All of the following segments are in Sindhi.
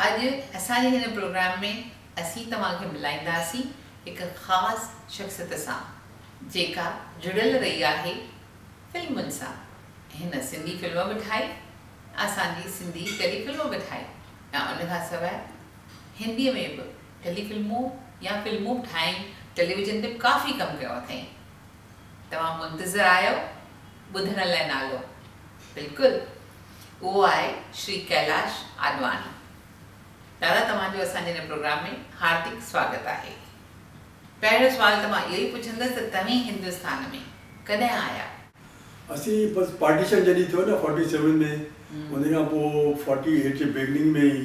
اڄ اسان جي هن پروگرام ۾ اسين توهان کي ملائينداسين هڪ خاص شخصيت سان جيڪا جڙيل رهي آهي فلمن سان هن سنڌي فلم به ٺاهي اسان جي سنڌي ٽيلي فلم به ٺاهي ۽ ان کان سواء هندي ۾ به ٽيلي فلمون يا فلمون به ٺاهين ٽيليويزن تي به ڪافي ڪم ڪيو اٿئين توهان منتظر آهيو ٻڌڻ لئه نالو بلڪل اهو آهي شري ڪيلاش آڏواڻي دادا توهان جو اسان جي هن پروگرام ۾ هاردڪ سواگت آهي پهريون سوال ته مان اهو ئي پڇندس ته توهين هندستان ۾ ڪڏهن آيا؟ اسين بس پارٽيشن جڏهين ٿيو نه فورٽي سيون ۾ ان کان پوء فورٽي ايٽ جي بيگننگ ۾ ئي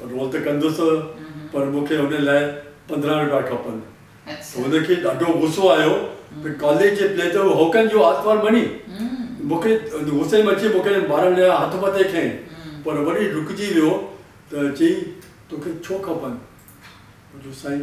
روئڻ ته ڪندس پر مون کي ان لاء پندرهن روپيا کپن. هن کي ڏاڍو غصو آيو ته ڪاليء جي پليء ته هوڪن جو آتوار مڃي مون کي غصي ۾ اچي مون کي مارڻ جا هٿ مٿي کنئي پر وري رڪجي ويو ته چيائين توکي ڇو کپن؟ جو سائين!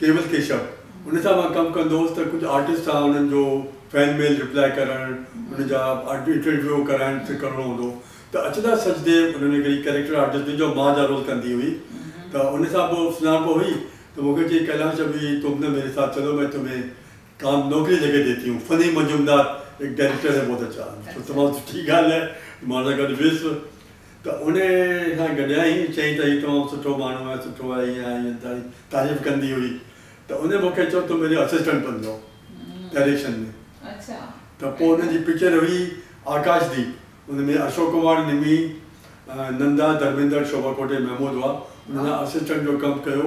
ڪيول ڪيشپ ان سان مان ڪم ڪندو هوس ته ڪجهه آرٽسٽ سان انهن جو فين ميل ريپلائي ڪرڻ انهن جا انٽرويو ڪرائڻ ته ڪرڻو هوندو ته اچلا سچديو ان ۾ هڪڙي ڪيريڪٽر آرٽسٽ هئي جو ماء جا رول ڪندي هئي ته ان سان پوء سڃاڻپ هئي ته مون کي چئي ڪيلاش ابي تم نه ميري ساٿ چلو مين تمهين ڪام نوڪري ليڪي ديتي هون فني مجومدار ايڪ ڊائريڪٽر هي بهت اچها تمام سٺي ڳالهه آهي مان ان سان گڏ ويس ته ان سان گڏيائين ۽ چيائين ته هي تمام سٺو ماڻهو آهي، سٺو آهي، هيئن آهي، هيئن تاڻي تعريف ڪندي هئي ته ان مون کي چيو تون منهنجو اسسٽنٽ بنجو ڊائريڪشن ۾ ته پوء ان جي پڪچر هئي آڪاش ديپ ان ۾ اشوڪ ڪمار نمي، نندا، ڌرميندر، شوڀا کوٽي، محمود هئا انهن سان اسسٽنٽ جو ڪم ڪيو.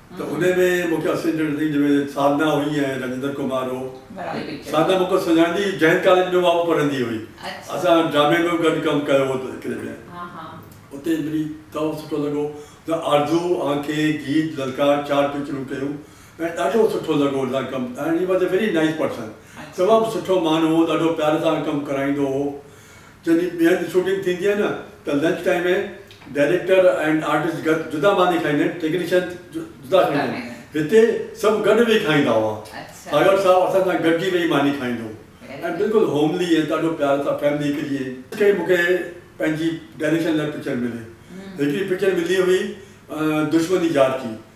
ته انهي ۾ مون کي اسسٽنٽ ڊي جي ۾ ساڌنا هئي ۽ راجندر ڪمار هو ساڌنا مون کان سڃاڻندي هئي جئن ڪاليج ۾ اها به پڙهندي هئي اسان ڊرامي ۾ به گڏ ڪم ڪيو هو ته هڪڙي ڏينهن اتي ملي تمام سٺو لڳو ته آرزو آنکي گيت للڪار چار پڪچرون ڪيون ۽ ڏاڍو سٺو لڳو ان سان ڪم ڪرڻ he was a very nice person تمام سٺو ماڻهو هو ڏاڍو پيار سان ڪم ڪرائيندو هو جڏهن ٻيهر جي شوٽنگ ٿيندي آهي نه ته لنچ ٽائيم ۾ ڊائريڪٽر ۽ آرٽسٽ گڏ جدا ماني کائيندا آهن، ٽيڪنيشن جدا کائيندا آهن. هتي سڀ گڏ ويهي کائيندا هئا. ٽائيلر صاحب اسان سان گڏجي ويهي ماني کائيندو هو ۽ بلڪل هوملي ۽ ڏاڍو پيار سان فيملي هڪ جيئن. ڪري مون کي پنهنجي ڊائريڪشن لاء پڪچر ملي. هڪڙي پڪچر ملي هئي دشمني جار ڪي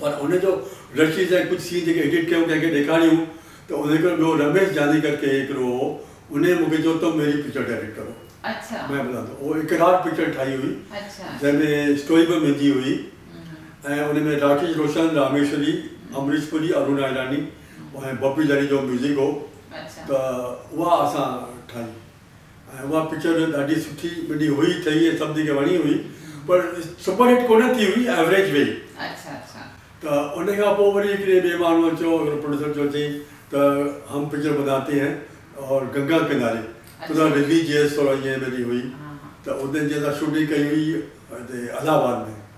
پر ان جو رشيد ۽ ڪجهه سين جيڪي ايڊٽ ڪيون ڪنهن کي ڏيکاريون ته ان هڪڙو ٻيو رميش جاني ڪر ڪي هڪڙو هو انهي مونکي چيو تم ميري پڪچر ڊائريڪٽ ڪرو مين بنا دو اهو اقرار پڪچر ٺاهي هئي جنهن ۾ اسٽوري به مهندي هئي ۽ ان ۾ راڪيش روشن راميشوري امريش پوري ارونا ايراني ۽ بپي دريجو ميوزڪ هو ته اها اسان ٺاهي. ۽ اها پڪچر جو ڏاڍي سٺي ٻنهي هئي ٺهي ۽ سڀني کي وڻي هئي پر سپر هٽ ڪونه ٿي هئي ايوريج ويئي ته ان کان پوء وري هڪڙي ٻئي ماڻهوء چيو هڪڙو پروڊيوسر چيو چئي ته هم پڪچر بناتي هين اور گنگا ڪناري ترا رليجيس ٿورا ائين ٻنهي هئي ته اتي جي اسان شوٽنگ ڪئي هئي هتي الهه آباد ۾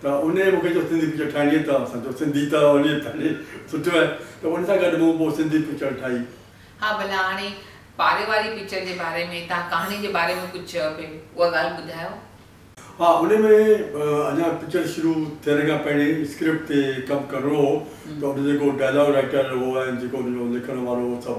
ته انهيء مون کي چيو سنڌي پڪچر ٺاهڻي اٿئي توهان سان؟ جو سنڌي ته وڃي ٿي سٺو آهي ته ان سان گڏ مون پوء سنڌي پڪچر ٺاهي. ها ڀلا هاڻي پاري واري پڪچر جي باري ۾ توهان ڪهاڻي جي باري ۾ ڪجهه چيو پئي اها ڳالهه ٻڌايو. ها انهيء ۾ اڃا پڪچر شروع ٿيڻ کان پهرين اسڪرپٽ تي ڪم ڪرڻو هو ته ان جو جيڪو ڊائلاگ رائيٽر هو ۽ جيڪو ان جو لکڻ وارو هو سڀ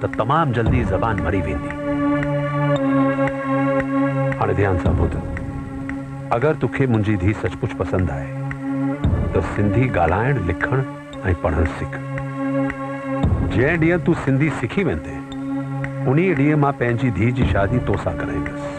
ته تمام جلدي زبان مري ويندي. هاڻي ڌيان سان ٻڌ. اگر توکي منهنجي ڌي سچ پچ پسند آهي ته سنڌي ڳالهائڻ، لکڻ ۽ پڙهڻ سک. جنهن ڏينهن تون سنڌي سکي ويندين، انهيء ڏينهن مان پنهنجي ڌي جي شادي تو سان ڪرائيندس.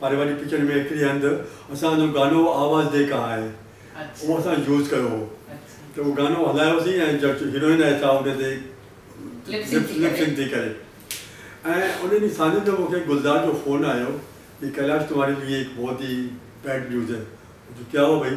پاري واري پڪچر ۾ هڪڙي هنڌ اسان هن گانو آواز دي ڪا آئي اهو اسان يوز ڪيو هو ته اهو گانو هلايو سين ۽ جيڪي هيروئن آهي سا ان تي لپ سنڪ ٿي ڪري ۽ ان ڏينهن ساندهي جو مون کي گلزار جو فون آيو ڪي ڪيلاش تمهاري ليئي هڪ بهت ئي بيڊ نيوز هي ڪيا هوا ڀئي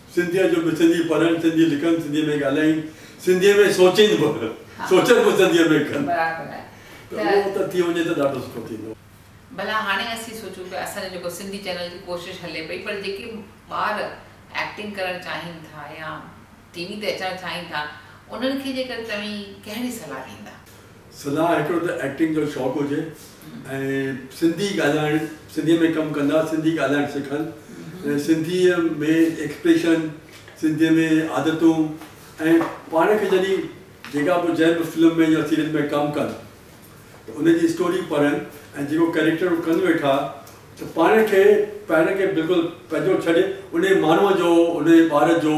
سنڌيء جو به سنڌي پڙهن، سنڌي لکن، سنڌيء ۾ ڳالهائين، سنڌيء ۾ سوچين به، سوچن به سنڌيء ۾ ڪن. برابر آهي. ته اهو ته ٿي وڃي ته ڏاڍو سٺو ٿيندو. ڀلا هاڻي اسين سوچون پيا اسان جو جيڪو سنڌي چينل جي ڪوشش هلي پئي پر جيڪي ٻار ايڪٽنگ ڪرڻ چاهين ٿا يا ٽي وي تي اچڻ چاهين ٿا انهن کي جيڪر توهين ڪهڙي صلاح ڏيندا؟ صلاح هڪڙو ته ايڪٽنگ جو شوق هجي ۽ سنڌي ڳالهائڻ سنڌي ۾ ڪم ڪندا سنڌي ڳالهائڻ سکن ۽ سنڌي ۾ ايڪسپريشن سنڌي ۾ عادتون ۽ پاڻ کي جڏهن جيڪا به جنهن به فلم ۾ يا سيريل ۾ ڪم ڪن ته ان جي اسٽوري پڙهن ۽ جيڪو ڪيريڪٽر هو ڪن ويٺا ته پاڻ کي پاڻ کي بلڪل پنهنجو ڇڏي انهي ماڻهو جو انهي ٻار جو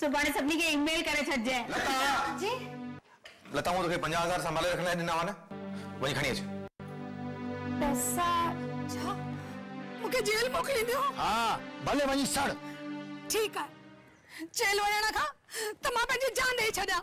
سڀاڻي سڀني کي اي ميل ڪري ڇڏجئي. لتا! جي؟ لتا مون توکي پنجاهه هزار سنڀالي رکڻ لاء ڏنا هئا نه؟ وڃي کڻي اچ. پئسا ڇا؟ مون کي جيل موڪلينديون؟ ها، ڀلي وڃي سڙ. ٺيڪ آهي. جيل وڃڻ کان ته مان پنهنجي جان ڏيئي ڇڏيان.